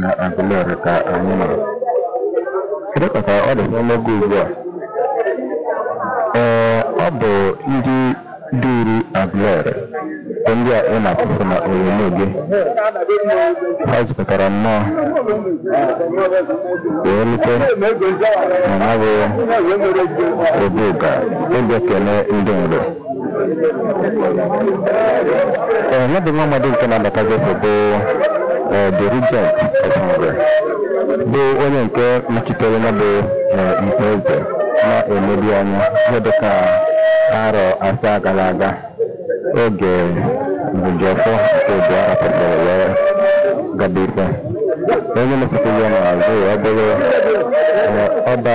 na Aguleri ka anyị nọ kedu ka ọ dị n'oge ugbu a ee ọ bụ ndị duru Aguleri bụ ndị a ị na-afụ na onyonyo gị ha zukọtara nnọọ wee rute na ya bụ Obuga ịbịa kelee ndị mgbe Ee, ya bụ nwa amadi nke na-abata Jefo bụ ee, the regent of Nri bụ onye nke nọchitere ya bụ ee, mkpa eze na-emebi anya ihe dịka arọ asaa gara aga oge Nrijiọfọ nke ịbụa rapụtara wee gaba ife onye na-esokwu ya n'azụ ya ọ bụrụ ee, ọba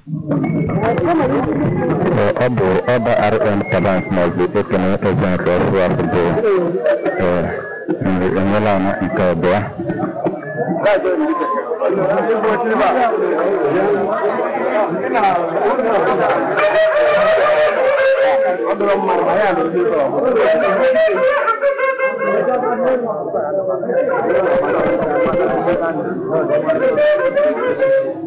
ọ bụ ọba RN Tabansi maazị ekene eze nke ọfụ afọ bụ Nri Enwelana nke abụọ Thank you.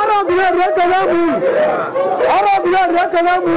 Arabia rekalamu. Arabia rekalamu.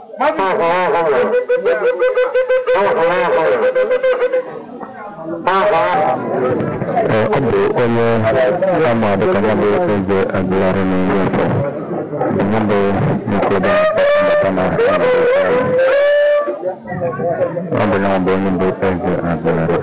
ọ bụ onye ama dịka ya bụ eze Aguleri na ị ga-afụ ya bụ nkoda mbata na ọ bụ ya bụ onye bụ eze Aguleri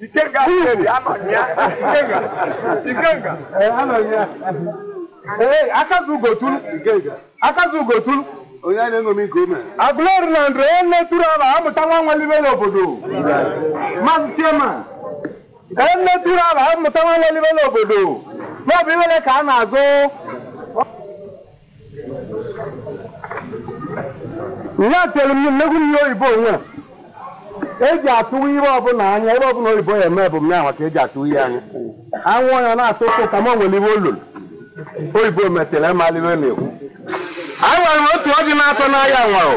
Ikenga Akperi anọ na ya. Ikenga. Ikenga. Ee, anọ na ya. Ee, akazu ugotulu. Ikenga. Akazu ugotulu. Onye a na-eṅomi nke o mere. Aguleri na ndụ onye na-eturu ala amụta nwa nwelibe n'obodo. Maazị Chiema. Onye na-eturu ala amụta nwa nwelibe n'obodo. Ya bụ iwere ka a na-azụ ihe atelu m n'egwu ihe oyibo onwe eji atụwa ihe ọbụla anya ihe ọbụla oyibo ya eme bụ mya maka eji atụwa ihe anya anwụ ya na-atụ ụtụ ka m nwere ihe ọlụlụ oyibo metere ị malị ihe na-ekwu a nwere otu o ji na-atụ n'anya nwụrụ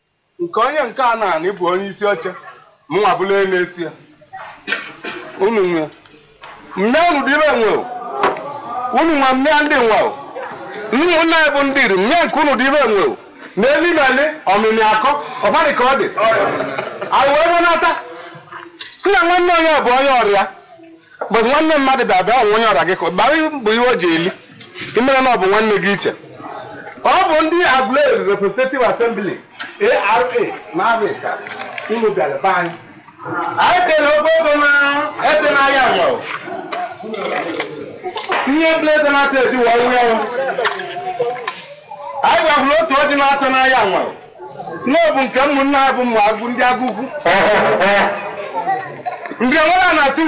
nke onye nke a na-anị bụ onye isi oche mụnwa bụla onye na-esi ya unu nwe mme unu dị ire nwe o. unu nwe mme ndị nwe o. ụmụnne anyị bụ ndị Nri mme nke unu dị ire nwe o. na eli na eli ọmịmị akọ ọbadị ka ọ dị anyị wee wenata si na nwanne onye bụ onye ọrịa bụzi nwanne mmadụ bịa bịa ọnwụ onye ọrịa gị ka ọ- bara bụ ihe o ji eli ị mere na ọ bụ nwanne gị iche ọ bụ ndị Aguleri Representative Assembly ARA na ọbịa unu bịara be anyị anyị kere ofe ego na ese n'ahịa nwa ihe bleze na-atọ edi wa nwa ya anyị gwahụrụ otu ọjị na-atọ n'ahịa nwa n'obu nke ụmụnne ha bụ mma agụ ndị Agụkwụ ndị nwere na tu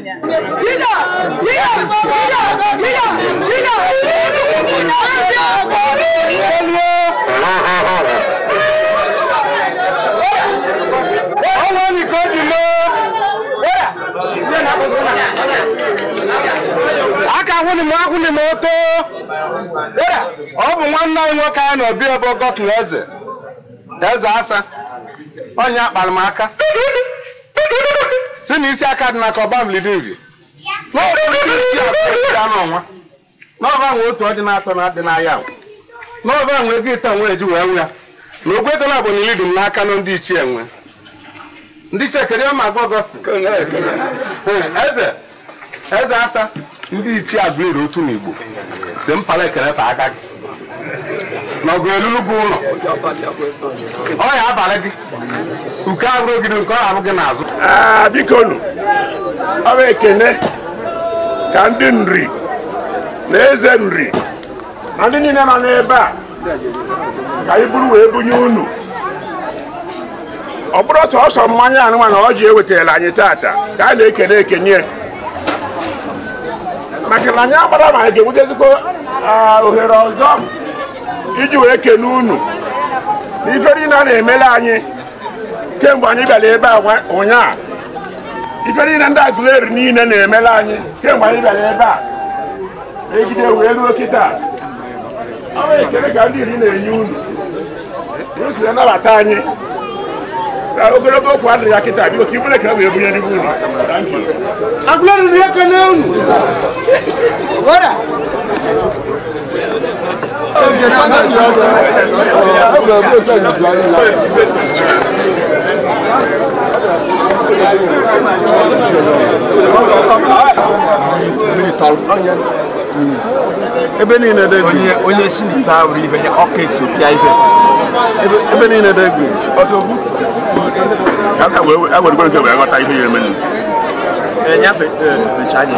aka hụrụ m ahụrụ m oto ọ bụ nwanne anyị nwoke anyị na obi bụ Augustine Eze eze asa onye akpara m aka si na isi aka dị n'aka ọba mlidinvi n'ọbụ ndị isi abụọ isi anụ ọnwa n'ọba nwe otu ọdị na-atọ na adị n'ahịa ahụ n'ọba nwe ego ịta nwe eji wee nwe ya na ogwe ego na-abụ na ilidi m n'aka na ndị ichie nwe ndị ichie kedu ihe ma agwa Augustine Eze eze asa ndị ichie Agụleri Otu n'igbo si mpala ekele pa aka gị na ọgụ elulu bụ ụlọ ọ ya abalị gị uke abụrụ ogidi nke ọ abụ gị n'azụ Ah, biko nụ ọ bụ ekene ka ndị Nri na eze Nri na ndị niile nọ n'ebe a ka anyị buru wee bunye unu ọ bụrọ sọsọ mmanya a nwa na ọjị e wetara anyị tata ka a na-ekene ekene maka na anyị amarọ ma anyị ga-enwetazikwa ohere ọzọ iji wee kene unu n'ife niile a na-emere anyị kemgbe anyị bịara ebe a ụnyaa ife niile ndị Agụleri niile na-emere anyị kemgbe anyị bịara ebe a e jide wee ruo kịta ọ bụ ekele ka ndị Nri na-enye unu unu si na-anabata anyị so ogologo okwu adịrọ ya kịta biko ka i buru ekele wee bunye ndị unu Thank you. Agụleri na-ekele unu. ebe niile dị onye onye si n'ite ahụ ibe ya ọka esopịa ibe ebe niile dị egwu ewerego nke wee ghọta ihe ya eme enyafe echa anya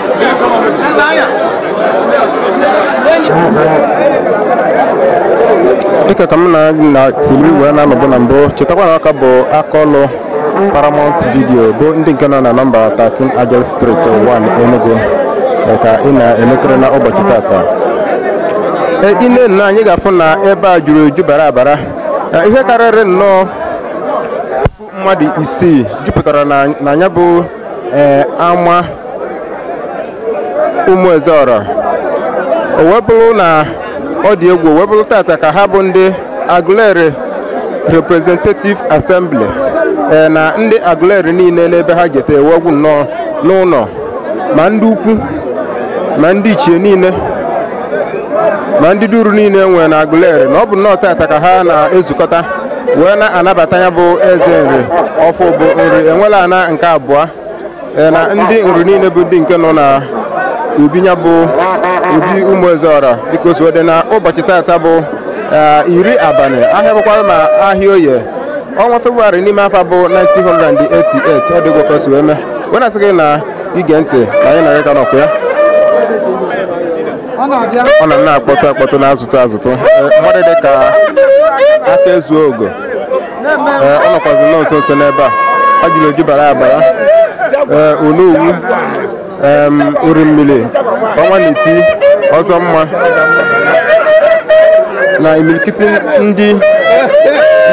dịka ka m na-esili wee na-anọbụ na mbụ chetakwa na ọ ka bụ aka ọlụ paramount video bụ ndị nke nọ na nọmba 13 agel street 1 enugu eh, ka ị na-elekiri na ụbọchị tata Eh, i nenee anya ị ga-afụ na ebe a juru eju bara abara Eh, ihe karịrị nnu mmadụ isii jupụtara na ya bụ eh, ama ụmụ ezeọra o wee bụrụ na ọ dị egwu o wee bụrụ tata ka ha bụ ndị Aguleri Representative Assembly eh, na ndị Aguleri niile n'ebe ha jeta ewegwu nnọọ n'ụlọ ma ndị ukwu ma ndị ichie niile ma ndị dị uru niile e nwere na Aguleri na ọ bụ nnọọ tata ka ha na-ezukọta wee na-anabata ya bụ eze nri ọfụ bụ nri enwelana nke abụọ ee, na ndị nri niile bụ ndị nke nọ na obi ya bụ obi ụmụ ezeọra dịka o si wee dị na ụbọchị tata bụ ee, iri abalị ahịa bụkwara ma ahịa oye ọnwa febụwarị n'ime afọ bụ 1988 ọ dịkwa ka o si wee mee wee na-asị gị na-ege ntị na anyị na gị ka nọkwa ya ọ na na-akpọtụ akpọtụ na-azụtụ azụtụ Ee, mmadụ dị ka aka ezu ogo Ee, ọ nọkwazi nnọọ nso nso n'ebe a juru eju bara abara Ee, onowu em, orimmiri ọnwa na-eti ọzọ mma na imirikiti ndị ndị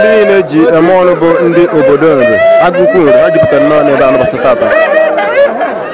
niile e ji eme ọnụ bụ ndị obodo nri agụkwu nri ha jupụtara nnọọ n'ebe a nabata tata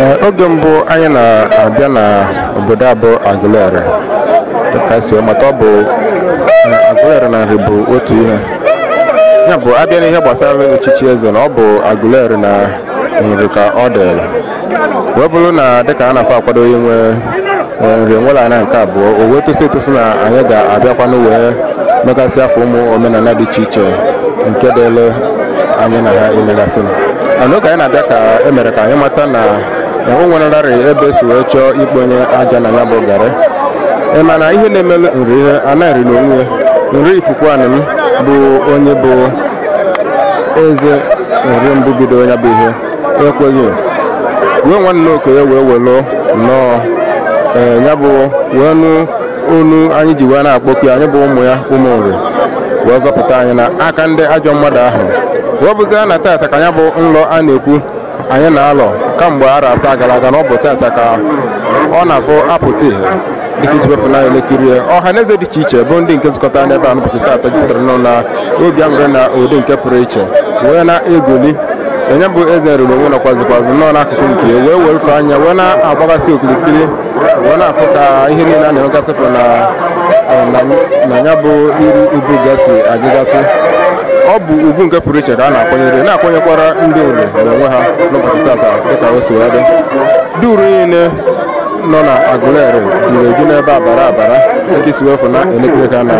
Ee, oge mbụ anyị na-abịa na obodo a bụ Aguleri dịka e si wee mata ọ bụ na Aguleri na Nri bụ otu ihe ya bụ a bịa n'ihe gbasara echichi eze na ọ bụ Aguleri na Nri ka ọ dịrị wee bụrụ na dịka a na-afụ akwado inwe nri enwelana nke abụọ o wee tosi etosi na anyị ga-abịakwanụ wee megasị afọ ụmụ omenala dị iche iche nke dịlị anyị na ha imegasị mana oge anyị na-abịa ka e mere ka anyị mata na o nwerarị ebe e si wee chọọ ikponye aja na ya bụ garị ị ma na ihe na-emelu nri ihe ana nri na onwe nri ifikuanim bụ onye bụ eze nri mbụ bido ya bụ ihe ekweghị wee nwanne okenye wee were nnọọ ee ya bụ wee nụ onu anyị ji wee na-akpọku ya anyị bụ ụmụ ya ụmụ nri wee zọpụta anyị na aka ndị ajọ mmadụ ahụ wee bụzie na tata ka ya bụ nlọ a na-ekwu anyị na-alọ kamgbe arọ asaa gara aga na ọ bụ tata ka ọ na-afụ apụta ihe dịka i si wefu na-elekiri ọha na eze dị iche iche bụ ndị nke zụkọtara n'ebe a n'ụbọchị taata jupụtara nọ na obi aṅụrị na ụdị nke pụrụ iche wee na-egoli ya bụ eze nri n'onwe nọkwazịkwazị nọ n'akụkụ nke ya wee werufe anya wee na-agbagasị okirikiri wee na-afụ ka ihe niile a na-emegasịfụ na na- na ya bụ iru obu gad si agagasị ọ bụ ugwu nke pụrụ iche ka a na-akwanyere na-akwanyekwara ndị nri n'onwe ha n'ụbọchị tata dịka o si wee dị duru niile nọ na Agụleri juru eju n'ebe a bara abara nke i si wefu na-elekiri ya na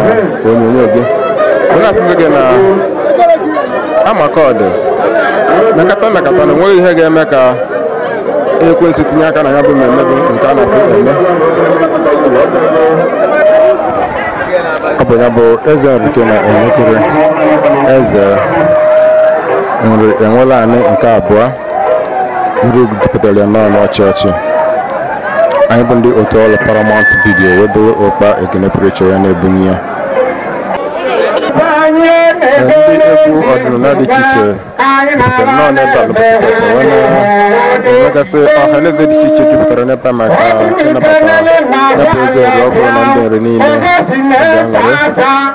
onyonyo gị ọ na-asịsị gị na amakọdụ mekata mekata na enweghị ihe ga-eme ka ekwensu tinye aka na ya bụ mmemme bụ nke a na-afụ eme ọ bụ ya bụ eze nri ka ị na-enekiri eze nri enwelani nke abụọ iru egwu jupụtara ya nọọ n'ọchị ọchị anyị bụ ndị otu ọrụ paramount vidio wee buru ụkpa ekene pụrụ iche ya na-ebunye ya ndị egwu ọdịnala dị iche iche jupụtara nọọ n'ebe a n'ụbọchị tata wee na-emegasị ọha na eze dị iche iche jupụtara n'ebe a maka ịnabata ya bụ eze ọrụ ọhụrụ na ndị nri niile obi aṅụrị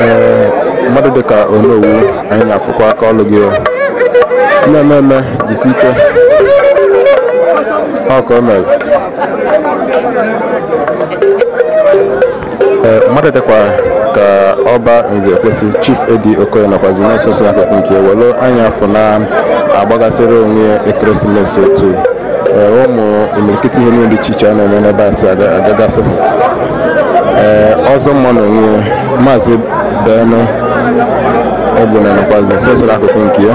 ee mmadụ dịka onowu anyị na-afụkwa aka ọlụ gị o. na-eme eme jisi ike ọkaa omee mmadụ dịkwa ka ọba nze kwesị chief edi okoye nọkwazị nsonso n'akụkụ nke welu anya afọ na-agbagasịrị onwe ekeresimesi otu ụmụ imirikiti ihe niile dị iche iche a na-eme n'ebe a si agagasịfụ ee ọzọ mma na onwe maazị ben egbuna nọkwazị nsonso n'akụkụ nke ya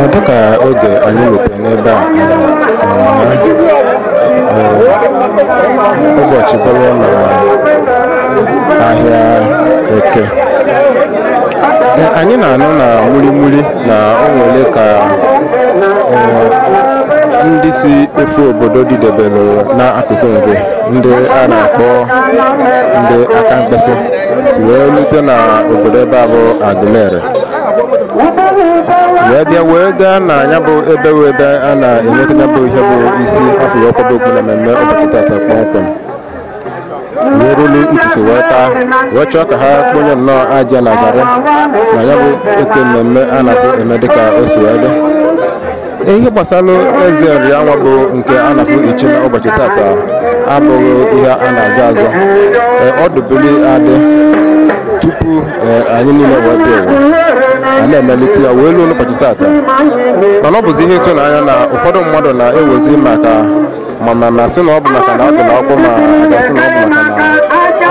Ee dịka oge anyị rutere n'ebe a ee, ụbọchị bụrụ na ahịa eke Ee, anyị na-anụ na murimuri na o nwere ka ee, ndị si ofe obodo dịdebere n'akụkụ nri ndị a na-akpọ ndị akamkpịsị si wee rute na obodo ebe a bụ Aguleri wee bịa wee gaa na ya bụ ebe wee ebe a na-enweta ya bụ ihe bụ isi a fụ wee kwaba okpu na mmemme ụbọchị tata kpọmkwem weruru ụtụtụ wee gaa wee chọọ ka ha kponye nnọọ aja na garị na ya bụ oke mmemme a na-afụ eme dịka o si wee dị ihe gbasara eze nri anwa bụ nke a na-afụ ichi na ụbọchị tata abụghị ihe a na-azọ azọ Ee, ọ dụbili adị tupu ee, anyị niile wee bịa ụwa a na-emelite ya wee ruo n'ụbọchị tata mana ọ bụzi ihe ịtụnanya na ụfọdụ mmadụ na-ewezi maka mana na sị na ọ bụ maka na ọ dị n'akwụkwọ ma a ga-asị na ọ bụ maka na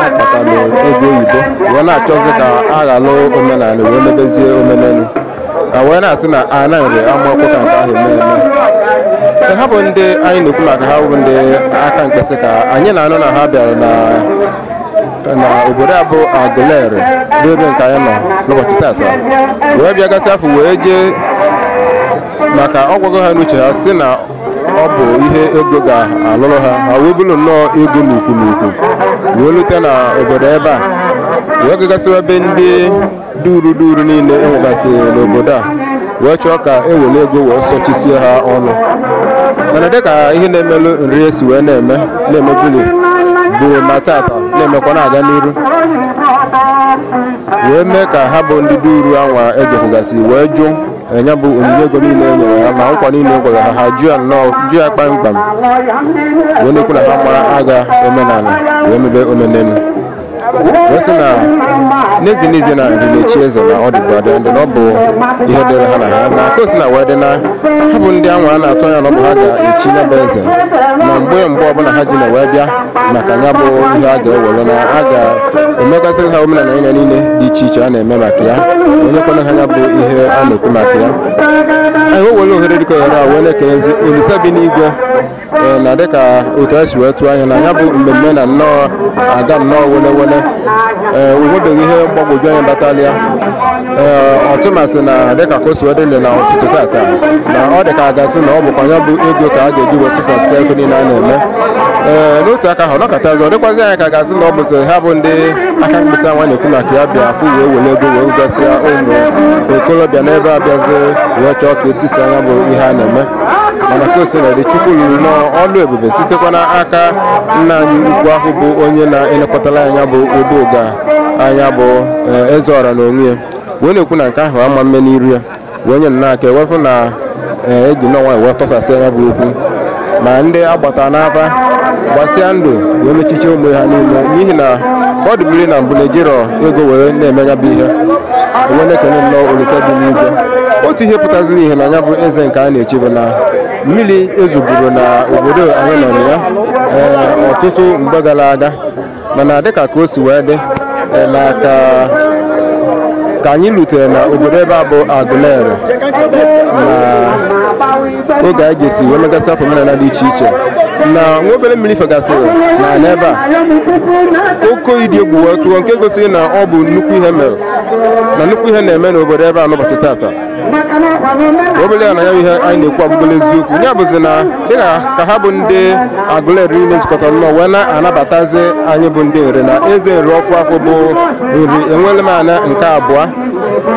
a kpatara ego oyibo wee na-achọzi ka a ghalụ omenala wee mebezie omenelu a wee na-asị na a na-enwe ama ọkụ ka nke ahụ eme eme Ka ha bụ ndị anyị na-ekwu maka ha bụ ndị Akamkpisi ka anyị na-anụ na ha bịara na na obodo a bụ Aguleri bụ ebe nke anyị nọ n'ụbọchị tata wee bịa gasị afọ wee jee maka ọ gwago ha n'uche ha sị na ọ bụ ihe ego ga-alụrụ ha ha wee buru nnọọ ego n'ukwu n'ukwu wee lute na obodo ebe a wee gagasịwa ebe ndị duru duru niile e nwegasị n'obodo a wee chọọ ka e were ego wee sọchisie ha ọnụ mana dịka ihe na-emelụ nri esi wee na-eme na-emebuli bụ na tata na-emekwa na-aga n'iru wee mee ka ha bụ ndị duru anwa e jekwugasị wee jụ nya bụ onyinye ego niile e nyere ha ma nkwa niile e kwere ha ha jụ ya nnọọ jụ ya kpamkpam wee na-ekwu na ha ama-agha omenala wee mebe omenelu wee sị na n'ezie n'ezie na ndị na-echi eze na ọ dịbu adị ndị na ọ bụ ihe dịrị ha na ha na ka o si na wee dị na ha bụ ndị anwa a na-atụ anya na ọ bụ ha ga-echi ya bụ eze na mgbe mgbe ọbụla ha ji na wee bịa maka ya bụ ihe a ga-ewere na a ga-emegasịrị ha omenala anwa niile dị iche iche a na-eme maka ya onye kwere ha ya bụ ihe a na-ekwu maka ya anyị wee were ohere dịka ohere a wee na-ekelezi Olisa bi n'igwe Ee, na dịka otu anyị si wee tụọ anya na ya bụ mmemme na nnọọ aga nnọọ wele wele ee onwebeghị ihe mgbagwoju anya batara ya ee ọtụmasị na dịka ka o si wee dị na ọtụtụ tata na ọ dị ka a ga-asị na ọ bụkwa ya bụ ego ka a ga-eji wee sụsasịa ife niile a na-eme ee n'otu aka ahụ nọkọta ọzọ ọ dịkwazi anyị ka a ga-asị na ọ bụzi ha bụ ndị Akamkpisi anwa na-ekwu maka ya bịa afụ wee were ego wee gasịa ụmụ okorobịa n'ebe a bịazi wee chọọ ka e tisa ya bụ ihe a na-eme mana ka o sila dị Chukwu rụrụ nnọọ ọlụ ebube sitekwa n'aka nna anyị ukwu ahụ bụ onye na-elekọtara nya bụ Obu Uga anya bụ eh, Ezeọra na onwe ya wee na-ekwu na nke ahụ ama-eme n'iru ya wee nye nnọọ aka wee fụ na eh, e ji nnọọ nwayọ wee tọsasịa nya bụ okwu ma ndị agbata n'afa gbasịa ndụ wee mechiche ụmụ ha niile n'ihi na ka ọ dụbiri na mbụ na-ejirọ ego were na-eme ya bụ ihe wee na-ekene nnọọ Olisa bi n'igwe otu ihe pụtaziri ihe na ya bụ eze nke a na-echi bụ na mmiri ezoburo na obodo anyị nọ na ya ee, ọtụtụ mgbe gara aga mana dịka ka o si wee dị ee, na ka ka anyị rutere na obodo ebe a bụ Agụleri na oge anyị ga-esi wee megasị ife omenala dị iche iche na nwa obere mmiri fegasịrị na n'ebe a oke oyi dị egwu wee tụọ nke gosiri na ọ bụ nnukwu ihe mere na nnukwu ihe na-eme n'obodo ebe a n'ụbọchị tata obere ya na ya bụ ihe anyị na-ekwu abụrụla eziokwu ya bụzi na dịka ka ha bụ ndị Agụleri na-ezukọta nnọọ wee na-anabatazi anyị bụ ndị Nri na eze Nri ọfụụ afụ bụ Nri enwele m ana nke abụọ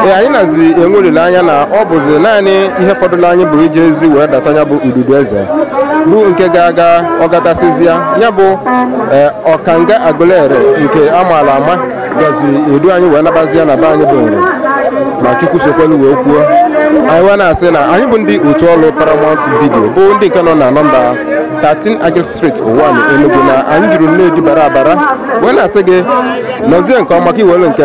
ee anyị nazi enwe olileanya na ọ bụzi naanị ihe fọdụrụ anyị bụ ijezi wee data ya bụ ududu eze bụ nke ga-aga ọ gatasịzịa ya bụ ee, ọkanga Agụleri nke a maala ama gazi edu anyị wee nabazia na be anyị bụ Nri ma Chukwu sokwalụ wee kwuo anyị wee na-asị na anyị bụ ndị otu ọrụ Paramount Video bụ ndị nke nọ na nọmba 13 Agil street Uwani Enugu na anyị juru nnọọ eju bara abara wee na-asị gị nọzie nke ọma ka i were nke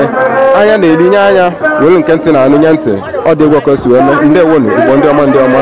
anya na-ele nye anya were nke ntị na-anụ nye ntị ọ dị egwu ka o si wee mee ndeewonu Igbo ndị ọma ndị ọma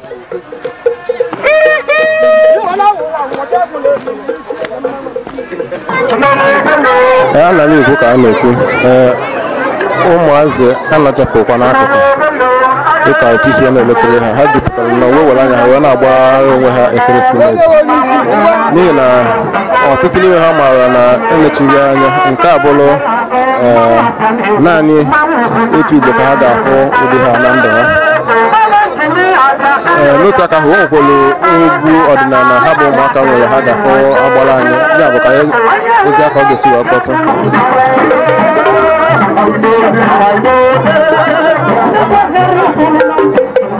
ee a na m ekwu ka a na-ekwu ee ụmụazị anọchapụkwa n'akụkụ dịka otu i si wee na-eletere ha ha jupụtara na uwe were anya ha wee na-agbara onwe ha ekeresimesi n'ihi na ọtụtụ n'ime ha maara na emechighị anya nke a bụrụ ee, naanị otu ugbo ka ha ga-afụ ụdị a na ndụ ha Ee, n'otu aka ahụ o nwekwara egwu ọdịnala ha bụ ụmụaka nwere ha ga-afụ agbara anyị ya bụ ka anyị ozi aka ọ ga-esi wee kpọtụ Thank you.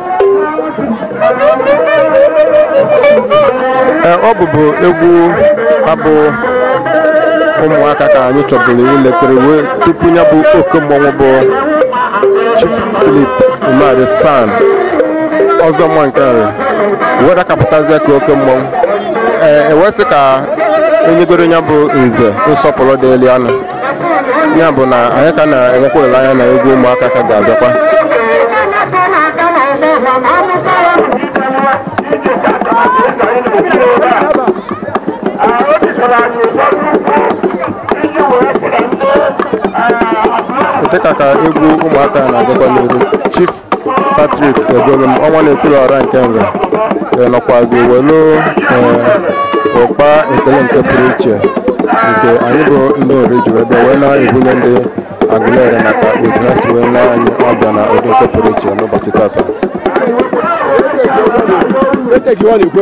Ee, ọ bụbu egwu ha bụ ụmụaka ka anyị chọburu iletere wee tupu ya bụ oke mmọnwụ bụ Chief Philip Umeadi SAN Ọzọmma nke Nri wee dakapụtazie ka oke mmọnwụ ee e wee sị ka e nyegoro ya bụ nze nsọpụrụ dịrị ya nụ ya bụ na anyị ka na-enwekwa olileanya na egwu ụmụaka ka ga-abịakwa dịka ka egwu ụmụaka na-agakwa n'ihu chief Patrick Egolum ọnwa na-etiri ọra nke Nri e nọkwazi welu ee, ụkpa ekele nke pụrụ iche nke anyị bụ ndị Nri ji wee bịa wee na-ebunye ndị Aguleri maka otu ha si wee nee anyị ọbịa na ụdị nke pụrụ iche n'ụbọchị tata Ete gị ọ na-ekwe.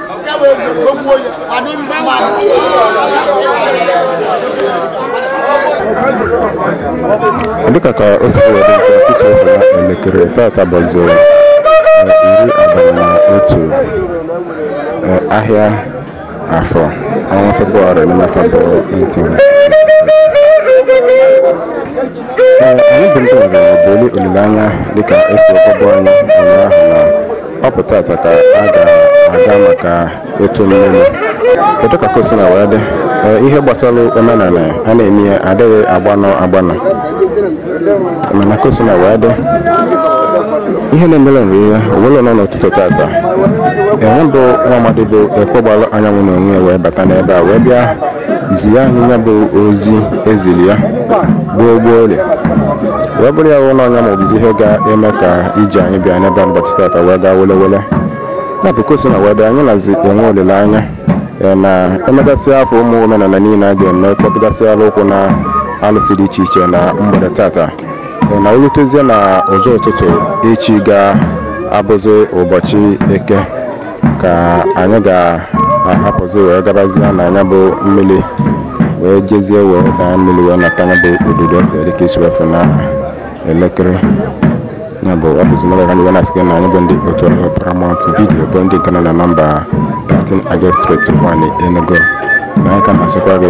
dịka ka o si were nsọ ị si wee fụ na elekere tata bụzi eh, iri abalị na otu eh, ahịa afọ ọnwa febụwarị n'ime afọ bụ 19 anyị bụ ndị ọgaranya bụ olileanya dịka esi ọkọbụ anyị ụnyaahụ na ọ bụ tata ka a ga-aga maka ịtụ mmiri dịka ka o sina wee dị Ee, ihe gbasara omenala a na-eme ya adịghị agbanụ agbanụ mana ka o sina wee dị ihe na-emere Nri ihe o welu nọ n'ụtụtụ tata nya bụ nwa amadi bụ Ekwegbalu Anyanwụ na onwe ya wee bata n'ebe a wee bịa zi ya nya bụ ozi eziri ya gboo gboo ole wee bụrụ ya wụ na ọnya ma ọ bụzi ihe ga-eme ka ije anyị bịa n'ebe a n'ụbọchị tata wee gaa wele wele nya bụ ka o sina wee dị anyị nazi enwe olileanya ee, na emegasịa afọ ụmụ omenala niile a ga-eme kpọtụgasịala ụkwụ na alụsị dị iche iche na mgbede tata Ee, na o lutezie na ụzọ ụtụtụ echi ga-abụzi ụbọchị eke ka anyị ga-ahapụzi wee gabazie na nya bụ mmiri wee jezie wee daa mmiri wee nata nya bụ odudu eze dịka ị si wee fụ na elekere ya bụ ọ bụzi n'oge ka m ji wee na-asị gị na anyị bụ ndị otu ọrụ paramount vidiyo bụ ndị nke nọ na nọmba 13 Agate Street 1 Enugu na anyị ka na-asịkwa gị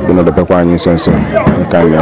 gị nọdebekwa anyị nso nso anyị ka na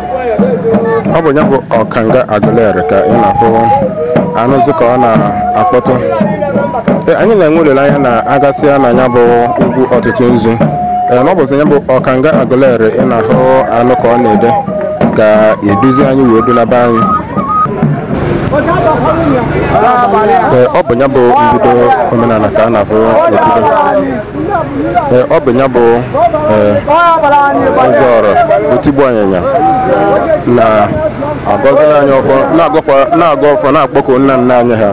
ọ bụ ya bụ ọkanga Aguleri ka ị na-afụ anụzi ka ọ na-akpọtụ Ee, anyị na-enwe olileanya na a gasịa na ya bụ ugwu Otutunzu ee na ọ bụzi ya bụ ọkanga Aguleri ị na-ahụ anụ ka ọ na-ede ga-eduzi anyị wee dunaba anyị Ee, ọ bụ ya bụ mbido omenala ka a na-afụ n'obodo ọ bụ ya bụ Ezeọra otigbu anyịnya na-agọziri anyị ọfọ na-agọ ọfọ na-akpọku nna nna anyị ha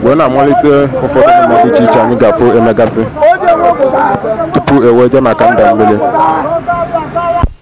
wee na-amalite ụfọdụ emume dị iche iche anyị ga-afụ e megasị tupu e wee jee maka nda mmiri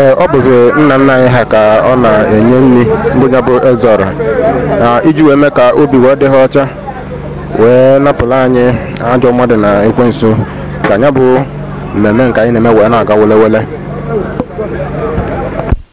ee ọ bụzi nna nna anyị ha ka ọ na-enye nri bụ ya bụ Ezeọra na iji wee mee ka obi wee dị ha ọcha wee napụla anyị ajọ mmadụ na ekwensu ka ya bụ mmemme nke anyị na-eme wee na-aga wele wele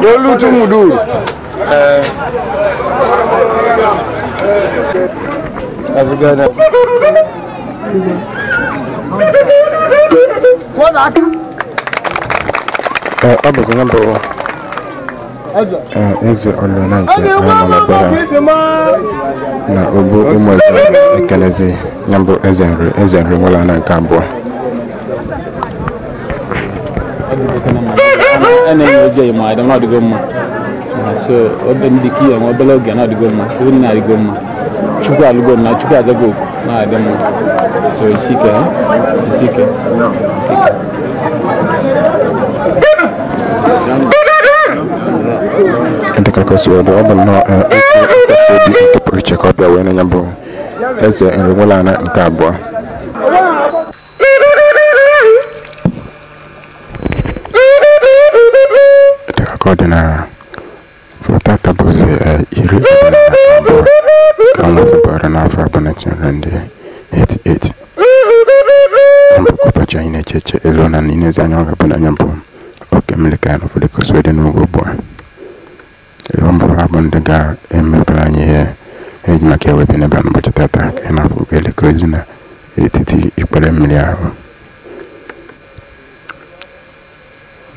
n'olutu muduru ee azụgana Ee, ọ bụzi nọmba ụwa Ee, Ezeọra nke anyị nọ na be ha na obu ụmụ eze ekenezi ya bụ eze nri eze nri Enwelana nke abụọ a na-enye ozi eyi ma adị m adịgo mma na so obe m dị ka ihe nwe obere oge na-adịgo mma ihu nna adịgo mma chukwu alụgo m na chukwu azago oku na-adị mma so isi ike ha isi ike isi ike dịka ka o si wee dị ọ bụ nnọọ eh, okwu nkasi obi nke pụrụ iche ka ọ bịa wee na ya bụ eze nri Enwelana nke abụọ dịka ka ọ dị na tata bụzi eh, iri abụọ na abụọ nke ọnwa febụwarị n'afọ abụọ na tinyere ndị 88 ọ bụ kwa ụbọchị anyị na-eche eche elu na n'inezi anya ọ ga-abụ na nya bụ oke mmiri ka anyị na-afụ dịka o si wee dị n'oge ugbu a Ihe ọ bụla bụ ndị ga-emebere anyị ihe e ji maka ya wee bịa n'ebe a n'ụbọchị tata ka ị na-afụ elekere ozi n'etiti ikpere mmiri ahụ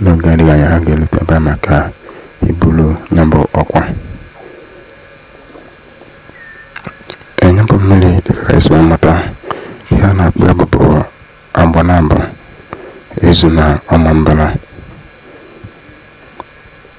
n'oge adịghị anya ha ga-elute ebe a maka iburu ya bụ ọkwa enye bụ mmiri dịka e si wee mata ihe a na-akpọ ya bụbụ Agbanabọ Ezu na Ọmambala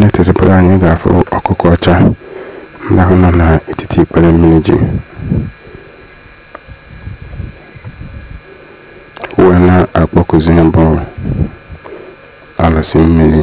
na-etezipụrụ anyị ga-afụ ọkụkọ ọcha ndị ahụ nọ n'etiti ikpere mmiri ji wee na-akpọkụzi nya bụ alụsị mmiri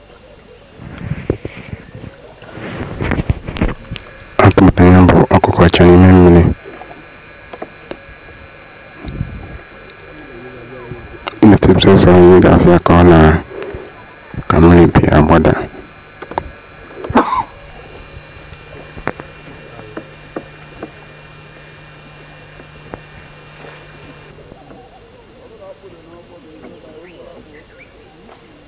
a tụbanye ya bụ ọkụkọ ọcha n'ime mmiri na-etipụta ụzọ anyị ga-afụ ya ka ọ na ka mmiri bi agbada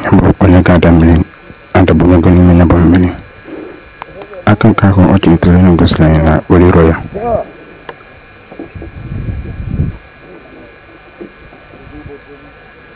nya bụ onye ga-ada mmiri adabanyego n'ime ya bụ mmiri aka nke ahụ ọ chịlitere elu gosiri anyị na o riro ya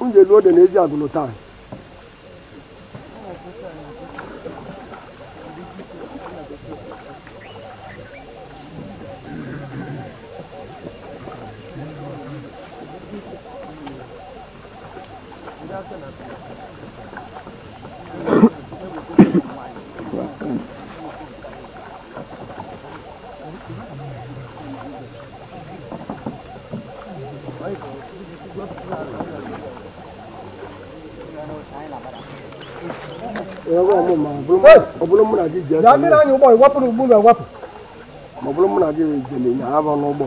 m ga-elu ode na eji agụlụ taa ọ bụrụ mụ na gị ji aka mmiri anyị ụgbọ ịwapụ na ugbu na ewapụ ma ọ bụrụ mụ na gị jere na abụ n'ụgbọ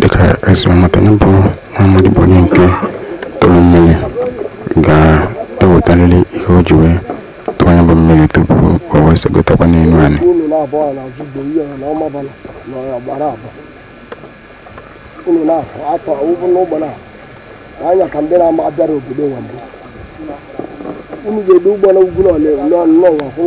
dịka e si wee mata ya bụ nwa amadị bụ onye nke tụrụ mmiri ga-ewetarịrị ihe o ji wee tụọ ya bụ mmiri tupu o wee segotakwa n'elu anị unu na-afọ atọ ụbụ n'ụgbọ na-anya ka ndị na-ama abịara obodo nwa mbụ unu ga-edo ụgbọ na ugwu n'ụwa kwụ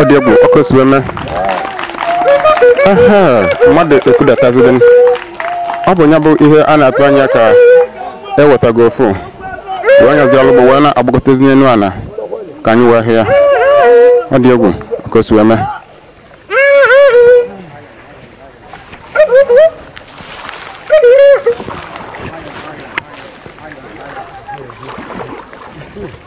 ọ dị egwu ọ ka e si wee mee ehee mmadụ ekwudataziri m ọ bụ ya bụ ihe a na-atụ anya ka e wetago ofu wee nyaziri ụgbọ wee na-agbagotazi n'elu ala ka anyị wee hụ ya ọ dị egwu ọ ka e si wee mee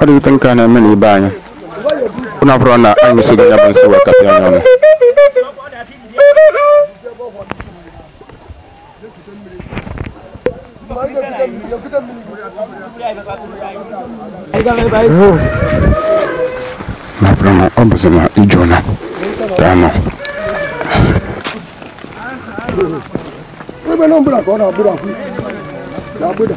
ọ dịghịta nke a na-eme n'ibe anyị ụnụ abụrụ na anyị mesịgo ya bụ nsị wee kapịa anya ọnụ na afọ na ọ bụzi na ije ụla ka anọ Ebe na mbụla ka ọ na-agbụrụ akwụ na agbụda.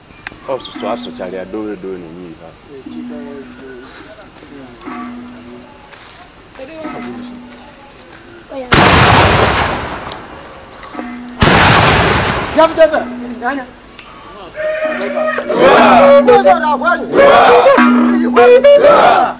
ọsụsụ asụchara ya dowe edowe na-enye ihe Yeah!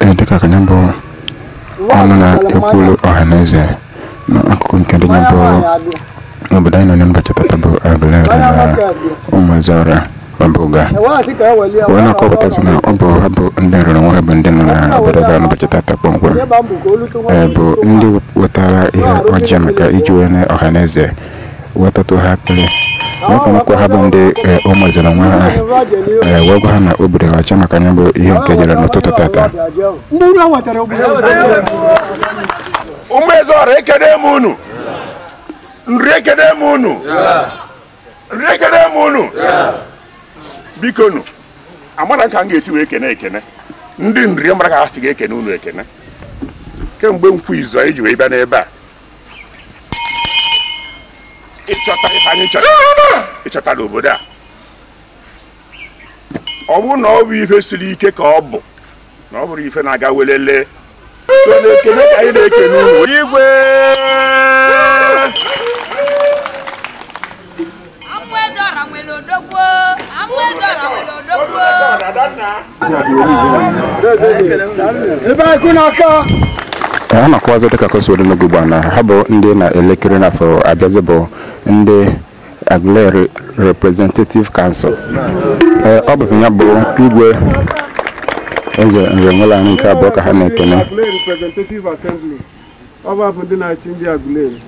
Ee, dịka ka ya bụ ọnụ na-ekwuru ọha na eze na akụkụ nke ndị ya bụ obodo anyị nọ n'ụbọchị tata bụ Aguleri na Ụmụezeọra Ọbụga wee na-akọpụtasị na ọ bụ ha bụ ndị Nri onwe ha bụ ndị nọ na Ọbụga n'ụbọchị tata kpọmkwem ee bụ ndị wetara ihe ọjị maka iji wee nye ọha na eze wee tụtụ ha akpịrị wee kpọnụkwa ha bụ ndị ee, o maziri nwa ha ee, wee gwa ha na obi dị ha ọcha maka ya bụ ihe nke jere n'ụtụtụ tata ndị unu ewetara obodo Ụmụezeọra ekene m unu Nri ekene m unu Nri ekene m unu biko nụ amarọ ka m ga-esi wee kene ekene ndị Nri mara ka ha si ga-ekene unu ekene kemgbe Nkwọ izu anyị ji wee bịa n'ebe a ịchọta ife anyị chọrọ ịchọta n'obodo a ọ bụrụ na ọ bụ ife siri ike ka ọ bụ na ọ bụrụ ife na-aga welele sọ na ekene ka anyị na-ekene unu igwe a na-akọwazi dịka ka o si dị n'oge ugbu a na ha bụ ndị na-elekiri n'afọ abịazi bụ ndị Aguleri Representative Council ee ọ bụzi ya bụ Igwe Eze Nri Enweleana nke abụọ ka ha na-ekene Aguleri Representative Assembly ọ bụ wa bụ ndị na-achị ndị Aguleri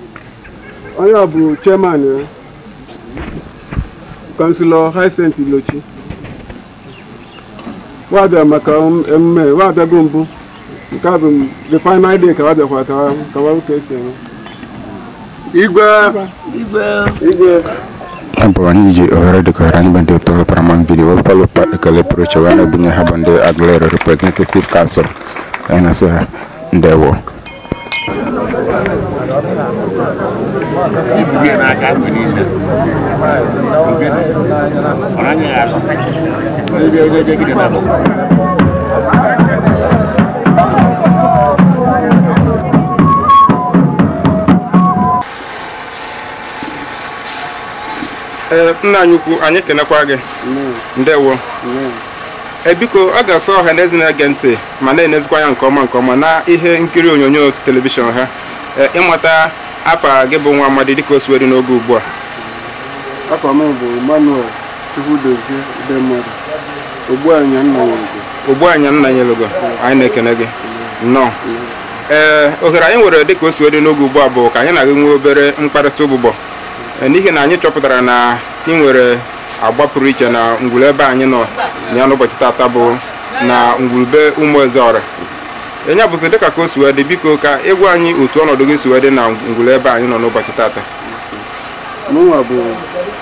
onye bụ chairman ya kansilọ Hyacinth Ilochi wa bịa maka emume wa bịago mbụ nke a bụ the final day ka wa bịakwa ka wa ka wa ka e si eme Igwe. Igwe. Igwe. ya bụ anyị ji ohere dịka ohere anyị bụ ndị otu paramount video wepụtala ukpa ekele pụrụ iche wee na-ebunye ha bụ ndị Aguleri representative council anyị na-asị ha ndewo Thank you. ee nna anyị ukwu anyị kenekwaa gị ndewo e biko ọ ga-asọ ọha na eze na-ege ntị ma na-enezikwa anya nke ọma nke ọma na ihe nkiri onyonyo telivishọn ha e, ịmata afa gị bụ nwa amadi dịka o si wee dị n'oge ugbu a afa m bụ Emmanuel Chukwudozie Udemmadụ, Ogbuanya Nnanyelugo. Ogbuanya Nnanyelugo, anyị na-ekene gị nnọọ. Ee, ohere anyị nwere dịka o si wee dị n'oge ugbu a bụ ka anyị na gị nwee obere mkparịta ụbụbọ Ee, n'ihi na anyị chọpụtara na ị nwere agba pụrụ iche na ngwuru ebe anyị nọ na ya n'ụbọchị tata bụ na ngwuru be ụmụ ezeọra e nya bụzi dịka ka o si wee dị biko ka ị gwa anyị otu ọnọdụ gị si wee dị na ngwuru ebe anyị nọ n'ụbọchị tata Mụnwa bụ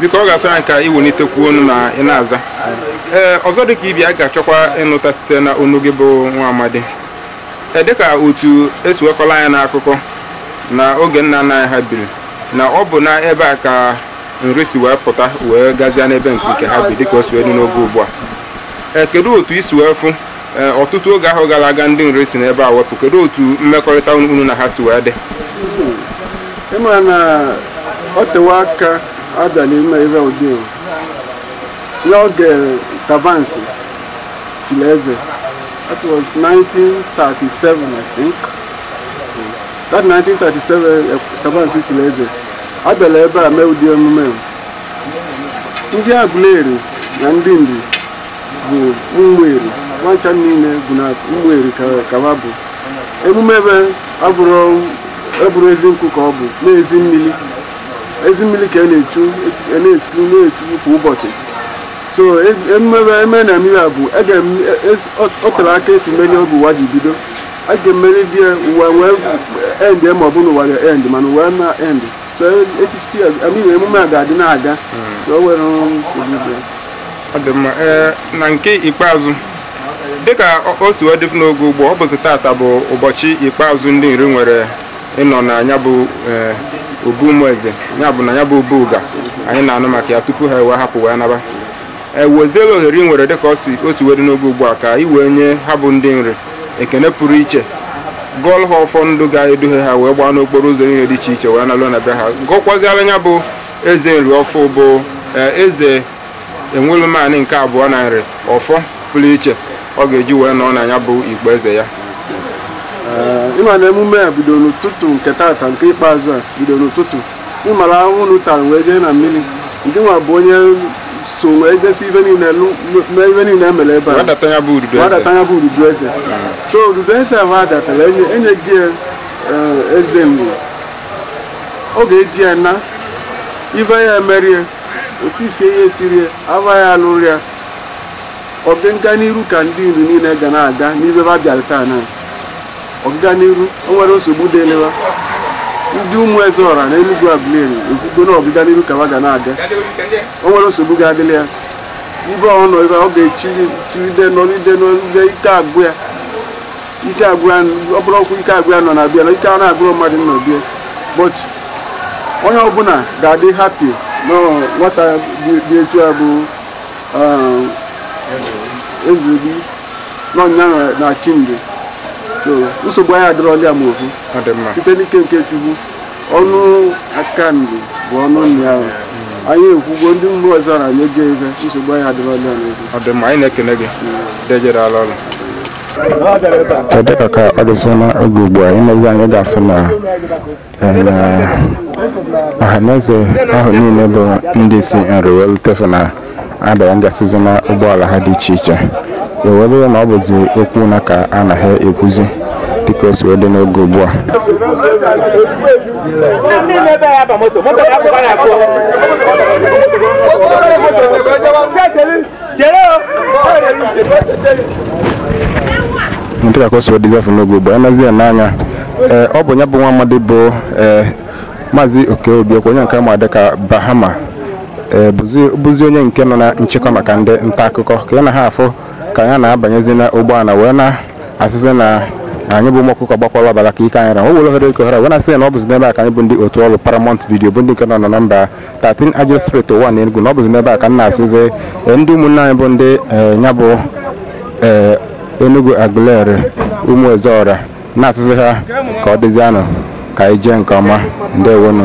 biko ọ ga-asọ anyị ka i welitekwuo ọnụ na ị na-aza ee ọzọ dịka ibe ya a ga-achọkwa ịnụta site na ọnụ gị bụ nwa amadi ee dịka otu e si wee kọọla anyị n'akụkọ na oge nna nna anyị ha biri na ọ bụ na ebe a ka Nri si wee pụta wee gazie n'ebe nke nke ha bi dịka o si wee dị n'oge ugbu a ee kedu otu i si wee fụ Ee, ọtụtụ oge ahụ gara aga ndị Nri si n'ebe a wee pụ kedu otu mmekọrịta unu unu na ha si wee dị ị ma na ọ tewe aka a bịalụ ime ihe ụdị a. ya oge Tabansi chiri eze that was 1937 i think that 1937 Tabansi chiri eze a bịalụ ebe a mee ụdị emume a. ndị Aguleri na ndị Nri bụ ụmụ Eri wa ncha niile bụ na ụmụ Eri ka va bụ emume ebe abụrọ ezi nkụ ka ọ bụ na ezi mmiri ezi mmiri ka a na-echu na-echu na-echu kwa ụbọchị so emume ebe eme na mmiri a bụ o tere aka e si mere ọ bụ ụwa ji bido a ga-emeride ya ụwa wee end ma ọ bụ na ụwa ya end mana ụwa na end So, echichi a I mean, emume a ga-adị na-aga so o nwerọ nsogbu dị. ọ dị mma ee na nke ikpeazụ dịka o- o si wee dịfụ n'oge ugbu a ọ bụzi tata bụ ụbọchị ikpeazụ ndị nri nwere ịnọ na ya bụ ee, obu ụmụeze ya bụ na ya bụ obu uga anyị na-anụ maka ya tupu ha wee hapụ wee naba eweziela ohere i nwere dịka o si o si wee dị n'oge ugbu a ka i wee nye ha bụ ndị nri ekene pụrụ iche gọọlụ ha ọfọ ndụ ga-eduhe ha wee gbaa n'okporo ụzọ niile dị iche iche wee naluo na be ha gọọkwazịalụ ya bụ eze nri ọfụụ bụ eh, eze enwelumanị nke abụọ na nri ọfọ pụrụ iche ọ ga-eji wee nọọ na ya bụ ukpo eze ya ịma na emume a bido n'ụtụtụ nke tata nke ikpeazụ a bido n'ụtụtụ ị mara ahụhụ unu tara wee jee na mmiri nke nwa bụ onyeso wee jesi ibe niile lụ- lụ- mee ive niile e mere ebe a wa data ya bụ ududu eze wa data ya bụ ududu eze so ududu eze ahụ wa datara enye enye gị ya, eh, eze mgbe ọ ga-eji ya na ibe ya emerie otu isi ya etirie aba ya alụrụ ya ọganiru ka ndị nri niile ga na-aga n'ive va bịara taa na ọganiru o nwerọ nsogbu dịlị wa ndị ụmụ eze ọra na Enugu Aguleri ekwugo na ọganiru ka ha ga na-eje o nwerọ nsogbu ga-adịlị ya ebe ọ nọ ebe ọ ga-echiri chiride nọride nọride ike agwụ ya ike agwụ ya ọ bụrụ ọkwa ike agwụ ya nọ na bịa na ike a na-agwụrụ mmadụ n'ọbịa but onye ọbụla ga-adị happy na nwata dị dị etu a bụ um, Ezeobi n'ọnya na chi mgbe so nsogbu anyị adịrọla ya ma ofu ọ dị mma site n'ike nke chukwu ọnụ aka nri bụ ọnụ nri ahụ anyị ekwugwo ndị mgbe ọzọ na anyị ego ego nsogbu anyị adịrọla ya n'oge ọ dị mma anyị na-ekene gị deje daalụ ọrụ dịka ka ọ dịzị na oge ugbu a i nezie anya ị ga-afụ na na ọhaneze ahụ niile bụ ndị si nri wee lutefe na-adanyegasịzi na ụgbọala ha dị iche iche ewee bụrụ na ọ bụzi okwu ụna ka a na-ekwuzi dịka o si wee dị n'oge ugbu a dịka ka o si dịzịfụ n'oge ugbu a nazi ya n'anya ee ọ bụ ya bụ nwa amadi bụ ee maazị oke obiekwe onye nke ama dịka bahama ee bụzi bụzi onye nke nọ na nchịkọ maka ndị nta akụkọ ka anyị na-afụ ka ya na-abanyezi na ụgbọala wee na-asịzi na anyị bụ ụmụ ọkụkọ gbakwara ọbara ka ike anyị ra o were ohere ike ohere a wee na-asị ya na ọ bụzi n'ebe a ka anyị bụ ndị otu ọrụ paramount video bụ ndị nke nọ na nọmba 13 agile Street Uwani Enugu na ọ bụzi n'ebe a ka m na-asịzi eh, ndị ụmụnne anyị bụ ndị eh, nya bụ eh, Enugwu Aguleri ụmụ Ezeọra na-asịzi ha ka ọ dịzianụ ka anyị jee nke ọma ndewonu